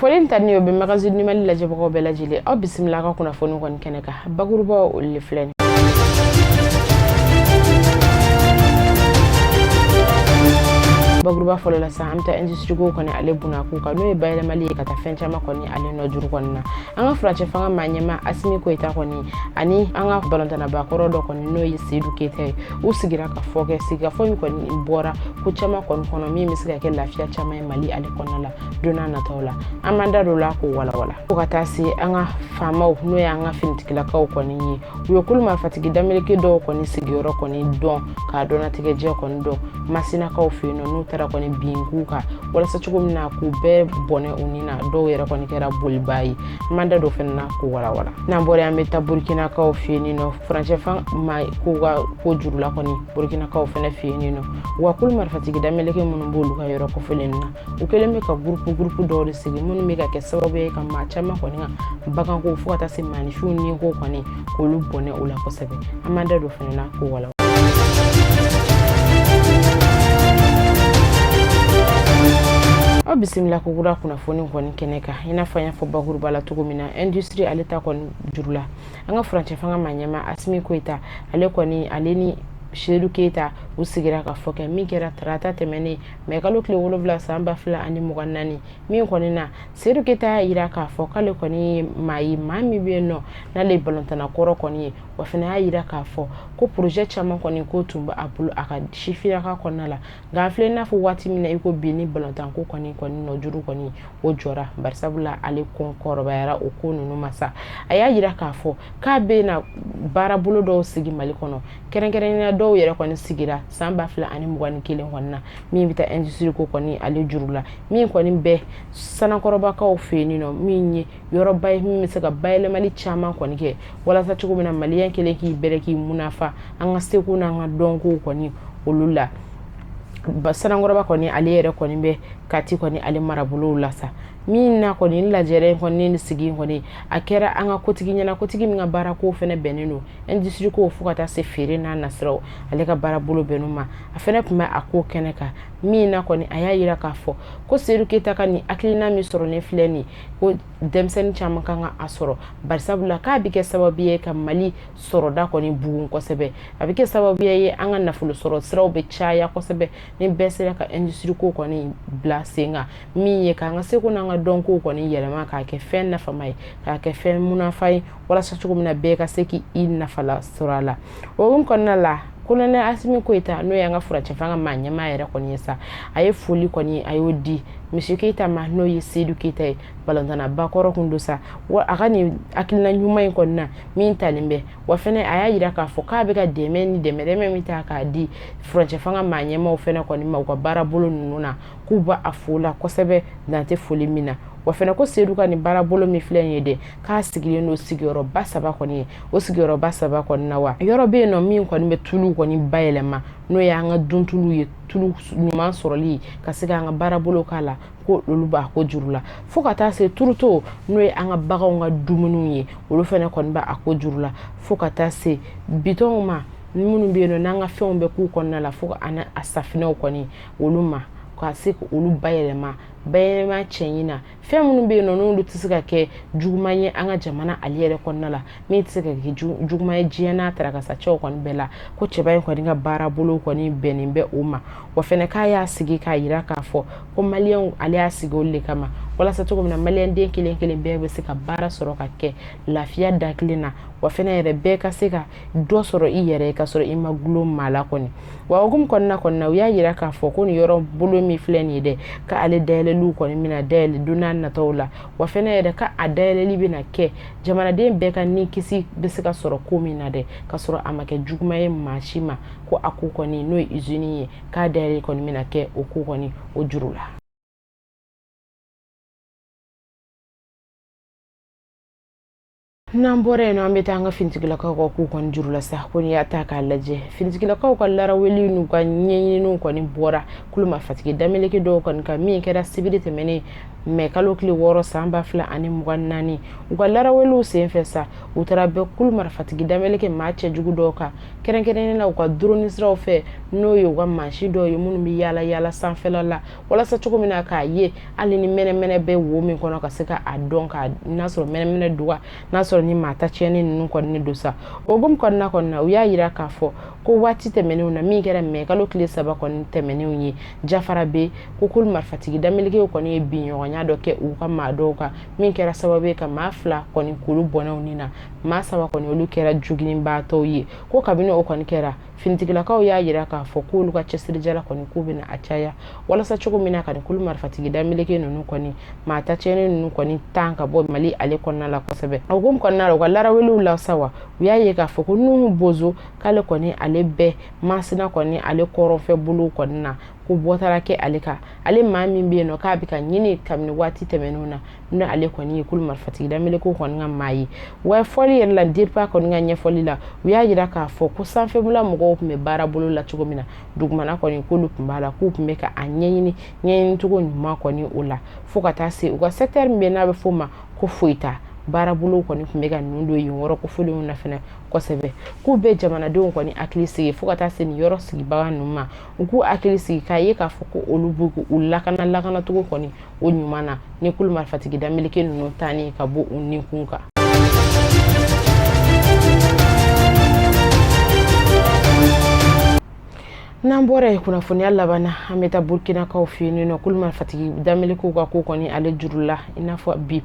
fɔlen in ta ni o bɛ magazine numali lajɛbagaw bɛɛ lajɛlen aw bisimila ka kunnafoni kɔni kɛnɛ kan bakurubaw olu le filɛ nin bakuruba fɔlɔ la sa an bɛ taa industrie ko kɔni ale bunakun kan n'o ye bayɛlɛmali ye ka taa fɛn caman kɔni ale nɔ juru kɔni na an ka furancɛ fanga maa ɲɛmaa asimi goyita kɔni ani an ka balontannaba kɔrɔ dɔ kɔni n'o ye seyidu keyita ye u sigira ka fɔ kɛ sigikafɔ min kɔni bɔra ko caman kɔni kɔnɔ min bɛ se ka kɛ lafiya caman ye mali ale kɔnɔna la don nataw la an b'an da don o la k'o walawala fo ka taa se an ka faamaw n'o y'an ka finitigilakaw kɔni ye u ye kulu marifatigi dameleke dɔw kɔni sigiyɔrɔ kɔni dɔn k'a dɔnnatigɛjɛ kɔni dɔn masinakaw fɛ yen nɔ n'u taara kɔni bin u kan walasa cogo min na k'u bɛɛ bɔnɛ u ni na dɔw yɛrɛ kɔni kɛra bolibaa ye an b'an da don fana na k'o walawala n'an bɔra yen an bɛ taa burukinakaw fɛ yen nɔ furancɛfan ma k'u ka ko juru la kɔni burukinakaw fana fɛ yen nɔ wa kulu marifatigi dameleke minnu b'olu ka yɔrɔ kofɔlen na u kɛlen bɛ ka gurupu gurupu dɔw de sigi minnu bɛ ka kɛ sababu ye ka maa caman kɔni ka baganko fo ka taa se maanifinw ni ko kɔni k'olu bɔnɛ o la kosɛbɛ an b'an da don fana na k'o walawala aw bisimila ko kura kunnafoni kɔni kɛnɛ kan i n'a fɔ an y'a fɔ bakuruba la cogo min na industrie ale ta kɔni juru la an ka furancɛ fanga maa ɲɛmaa asimi goyita ale kɔni ale ni seyidu keyita u sigira ka fɔ kɛ min kɛra tarata tɛmɛnen mɛ kalo tile wolonwula san ba fila ani mugan ni naani min kɔni na seyidu keyita y'a yira k'a fɔ k'ale kɔni ye maa ye maa min bɛ yen nɔ n'ale ye balontanna kɔrɔ kɔni ye wa fana y'a yira k'a fɔ ko porozɛ caman kɔni ko tun bɛ a bolo a ka sifiyaka kɔnɔna la nka an filɛ n'a fɔ waati min na i ko bin ni balontanko kɔni kɔni nɔ juru kɔni o jɔra barisabula ale kɔni kɔrɔbayara o ko ninnu ma sa a y'a yira k'a fɔ k'a bɛ na baarabolo dɔw sigi mali kɔnɔ kɛrɛnkɛrɛnya dɔw yɛrɛ kɔni sigira san ba fila ani mugan ni kelen kɔni na min bɛ taa industrie ko kɔni ale juru la min kɔni bɛ sanankɔrɔbakaw fɛ yen nɔ min ye yɔrɔba ye min bɛ se ka bayɛlɛmali caman kɔni kɛ walasa cogo min na maliyɛn kelen k'i bɛrɛ k'i munafa an ka seko n'an ka dɔnkow kɔni olu la sanankɔrɔba kɔni ale yɛrɛ kɔni bɛ kati kɔni ale marabolow la sa min na kɔni lajɛrɛ kɔni ni sigi kɔni a kɛra an ka kotigi ɲɛna kotigi min ka baara ko fana bɛnnen don industrie ko fo ka taa se feere n'a nasiraw ale ka baara bolo bɛnnen ma a fana tun bɛ a ko kɛnɛ kan min na kɔni a y'a yira k'a fɔ ko seyidu keyita ka nin hakilina min sɔrɔlen filɛ nin ko denmisɛnnin caman kan ka a sɔrɔ barisabula k'a bɛ kɛ sababu ye ka mali sɔrɔda kɔni bugun kosɛbɛ a bɛ kɛ sababu ye an ka nafolo sɔrɔ siraw bɛ caya kosɛbɛ ni bɛɛ sera ka industrie ko kɔni bila sen kan min ye k'an ka seko n'an ka dɔnko kɔni yɛlɛma k'a kɛ fɛn nafama ye k'a kɛ fɛn munafa ye walasa cogo min na bɛɛ ka se k'i nafala sɔrɔ a la o hukumu kɔnɔna la kolonɛ asimi goyita n'o y'an ka furancɛfanga maa ɲɛmaa yɛrɛ kɔni ye sa a ye foli kɔni a y'o di misi keyita ma n'o ye seyidu keyita ye balɔntanna bakɔrɔ kun don sa wa a ka nin hakilina ɲuman in kɔni na min talen bɛ wa fɛnɛ a y'a yira k'a fɔ k'a bɛ ka dɛmɛ ni dɛmɛdɛmɛ min ta k'a di furancɛfanga maa ɲɛmaaw fɛnɛ kɔni ma u ka baara bolo ninnu na k'u b'a fo a la kosɛbɛ dan tɛ foli min na wa fɛnɛ ko sedu ka nin baarabolo min filɛ nin ye dɛ k'a sigilen don sigiyɔrɔba saba kɔni ye o sigiyɔrɔba saba kɔni na wa yɔrɔ bɛ yen nɔ min kɔni bɛ tulu kɔni bayɛlɛma n'o y'an ka duntulu ye tulu ɲuman sɔrɔli ka se k'an ka baarabolo k'a la ko olu b'a ko juru la fo ka taa se turuto n'o ye an ka baganw ka dumuniw ye olu fɛnɛ kɔni b'a ko juru la fo ka taa se bidɔnw ma minnu bɛ yen nɔ n'an ka fɛnw bɛ k'u kɔnɔna la fo ani a safinɛw kɔni olu ma ka se ka olu bayɛlɛma bayɛlɛma cɛɲi na fɛn minnu bɛ yen nɔ n'olu tɛ se ka kɛ juguman ye an ka jamana ale yɛrɛ kɔnɔna la min tɛ se ka kɛ juguman ye diɲɛ n'a tarakasa cɛw kɔni bɛɛ la ko cɛba in kɔni ka baara bolo kɔni bɛnnen bɛ o ma wa fɛnɛ k'a y'a sigi k'a yira k'a fɔ ko maliyɛnw ale y'a sigi olu de kama walasa cogo min na maliyɛnden kelen kelen bɛɛ bɛ se ka baara sɔrɔ ka kɛ lafiya da kelen na wa fɛnɛ yɛrɛ bɛɛ ka se ka dɔ sɔrɔ i yɛrɛ ka sɔrɔ i ma gulon maa la kɔni wa o hukumu kɔnɔna kɔni na u y'a yira k'a fɔ ko nin yɔrɔ bolo min filɛ nin ye dɛ ka ale dayɛlɛliw kɔni bɛna dayɛlɛ don nataw la wa fɛnɛ yɛrɛ ka a dayɛlɛli bɛna kɛ jamanaden bɛɛ ka ni kisi bɛ se ka sɔrɔ ko min na dɛ ka sɔrɔ a ma kɛ juguma ye maa si ma ko a ko kɔni n'o ye izini ye k'a dayɛlɛli kɔni bɛna kɛ o ko kɔni o juru la n'an bɔra yen nɔ an bɛ taa an ka finitigilakaw ka ko kɔni juru la sa ko n'i y'a ta k'a lajɛ finitigilakaw ka laraweli n'u ka ɲɛɲininiw kɔni bɔra kulu marifatigi dameleke dɔw kɔni kan min kɛra sibiri tɛmɛnen mɛ kalo tile wɔɔrɔ san ba fila ani mugan naani u ka laraweliw senfɛ sa u taara bin kulu marifatigi dameleke maa cɛjugu dɔw kan kɛrɛnkɛrɛnnen na u ka duroni siraw fɛ n'o ye u ka mansin dɔw ye minnu bɛ yaala yaala sanfɛla la walasa cogo min na k'a ye hali ni mɛnɛmɛnɛ bɛ wo min kɔnɔ ka se ka a dɔn ka n'a sɔrɔ mɛnɛmɛnɛ don ka n'a sɔrɔ ni maa ta tiɲɛni ninnu kɔni don sa o hukumu kɔnɔna kɔni na u y'a yira k'a fɔ ko waati tɛmɛnenw na min kɛra mɛ kalo tile saba kɔni tɛmɛnenw ye jafarabɛ ko kulu marifatigi damelekew kɔni ye binɲɔgɔnya dɔ kɛ u ka maa dɔw kan min kɛra sababu ye ka maa fila kɔni k'olu bɔnɛ u ni na maa saba kɔni olu kɛra jogininbaatɔw ye ko kabini o kɔni kɛra finitigilakaw y'a yira k'a fɔ k'olu ka cɛsirijala kɔni k'u bɛna a caya walasa cogo min na ka nin kulu marifatigi dameleke ninnu kɔni maa ta tiɲɛni ninnu kɔni tan ka bɔ mali ale kɔnɔna la kosɛbɛ o hukumu kɔnɔna la u ka laraweliw la sa wa u y'a ye k'a fɔ ko nuhu bozo k'ale kɔni ale bɛ masina kɔni ale kɔrɔnfɛ bolow kɔni na ko bɔ taara kɛ ale kan ale maa min bɛ yen nɔ k'a bɛ ka ɲini kabini waati tɛmɛnenw na ni ale kɔni ye kulu marifatigi damelekew kɔni ka maa ye wa fɔli yɛrɛ la dirpa kɔni ka ɲɛfɔli la u y'a yira k'a fɔ ko sanfɛmula mɔgɔw tun bɛ baara bolo la cogo min na dugumana kɔni k'olu tun b'a la k'u tun bɛ ka a ɲɛɲini ɲɛɲini cogo ɲuman kɔni o la fo ka taa se u ka sɛkitɛri min bɛ n'a bɛ f'o ma ko foyita baarabolo kɔni tun bɛ ka ninnu don yen yɔrɔ kofolenw na fɛnɛ kosɛbɛ k'u bɛ jamanadenw kɔni hakili sigi fo ka taa se nin yɔrɔ sigibaga ninnu ma u k'u hakili sigi k'a ye k'a fɔ ko olu b'u u lakana lakanacogo kɔni o ɲuman na ni kulu marifatigi dameleke ninnu tanni ka bɔ u ninkun kan n'an bɔra yen kunnafoniya laban na an bɛ taa burukinakaw fɛ yen nɔ kulu marifatigi damelekew ka ko kɔni ale juru la i n'a fɔ bi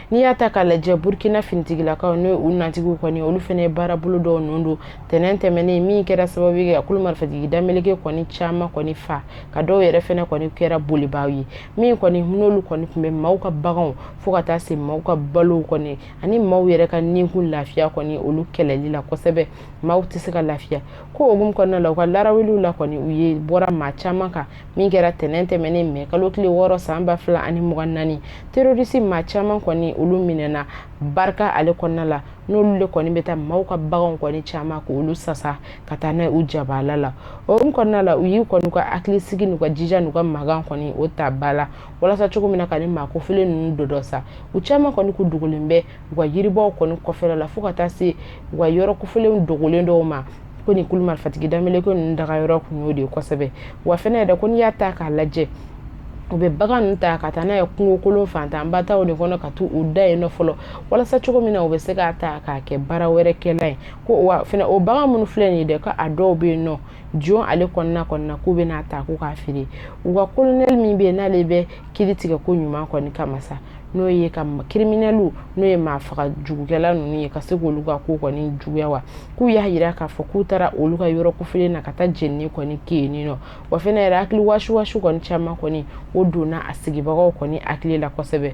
n'i y'a ta k'a lajɛ burukina finitigilakaw n'o u natigiw kɔni olu fɛnɛ ye baarabolo dɔw ninnu don tɛnɛn tɛmɛnen min kɛra sababu ye ka kulu marifatigi dameleke kɔni caman kɔni fa ka dɔw yɛrɛ fɛnɛ kɔni kɛra bolibaaw ye min kɔni n'olu kɔni tun bɛ maaw ka baganw fo ka taa se maaw ka balow kɔni ani maaw yɛrɛ ka ninkun lafiya kɔni olu kɛlɛli la kosɛbɛ maaw tɛ se ka lafiya ko o hukumu kɔnɔna la u ka laraweliw la kɔni u ye bɔra maa caman kan min kɛra tɛnɛn tɛmɛnen mɛ kalo tile wɔɔrɔ san ba fila ani mugan naani terorisi maa caman kɔni olu minɛna barika ale kɔnɔna la n'olu le kɔni bɛ taa maaw ka baganw kɔni caman ko olu sasa ka taa n'a u jabaala la o kɔnɔna la u y'u kɔni ka hakili sigi n'u ka jija n'u ka magan kɔni o ta ba la walasa cogo min na ka ni maa kofelen ninnu dɔdɔ sa u caman kɔni k'u dogolen bɛ u ka yiribaw kɔni kɔfɛla la fo ka taa se u ka yɔrɔ kofelenw dogolen dɔw ma ko nin kulu marifatigi dameleke ninnu daga yɔrɔ kun y'o de ye kosɛbɛ wa fɛnɛ yɛrɛ ko n'i y'a ta k'a lajɛ u bɛ bagan ninnu ta ka taa n'a ye kungokolon fantanba taw de kɔnɔ ka t'u u da yen nɔ fɔlɔ walasa cogo min na u bɛ se k'a ta k'a kɛ baara wɛrɛ kɛla ye ko wa fɛnɛ o bagan minnu filɛ nin ye dɛ ko a dɔw bɛ yen nɔ jon ale kɔnɔna kɔnɔna k'u bɛ n'a ta k'u k'a feere u ka kolonɛli min bɛ yen n'ale bɛ kiiri tigɛ ko ɲuman kɔni kama sa n'o ye ka kiriminɛliw n'o ye maa faga jugukɛla ninnu ye ka se k'olu ka ko kɔni juguya wa k'u y'a yira k'a fɔ k'u taara olu ka yɔrɔ kofelen na ka taa jenini kɔni kɛ yen nɔ wa fɛnɛ yɛrɛ hakili wasiwasi kɔni caman kɔni o donna a sigibagaw kɔni hakili la kosɛbɛ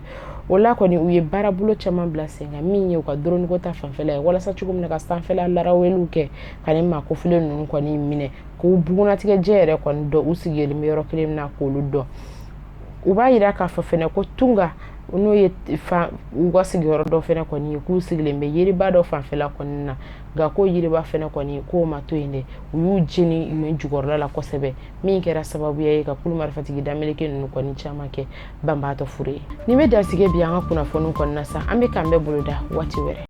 o la kɔni u ye baarabolo caman bila sen kan min ye u ka dɔrɔniko ta fanfɛla ye walasa cogo min na ka sanfɛla laraweliw kɛ ka ni maa kofelen ninnu kɔni minɛ k'u bugunnatigɛ jɛ yɛrɛ kɔni dɔn u sigilen bɛ yɔrɔ kelen na k'olu dɔn u b'a jira k'a fɔ fana ko tunga n'o ye u ka sigiyɔrɔ dɔ fana kɔni ye k'u sigilen bɛ yiriba dɔ fanfɛla kɔni na nka ko yiriba fana kɔni k'o ma to yen dɛ u y'u jeni nin jukɔrɔla la kosɛbɛ min kɛra sababuya ye ka kulu marifatigi dameleke ninnu kɔni caman kɛ banbaatɔ fure ye nin bɛ dan sigi bi an ka kunnafoniw kɔni na sa an bɛ k'an bɛn boloda waati wɛrɛ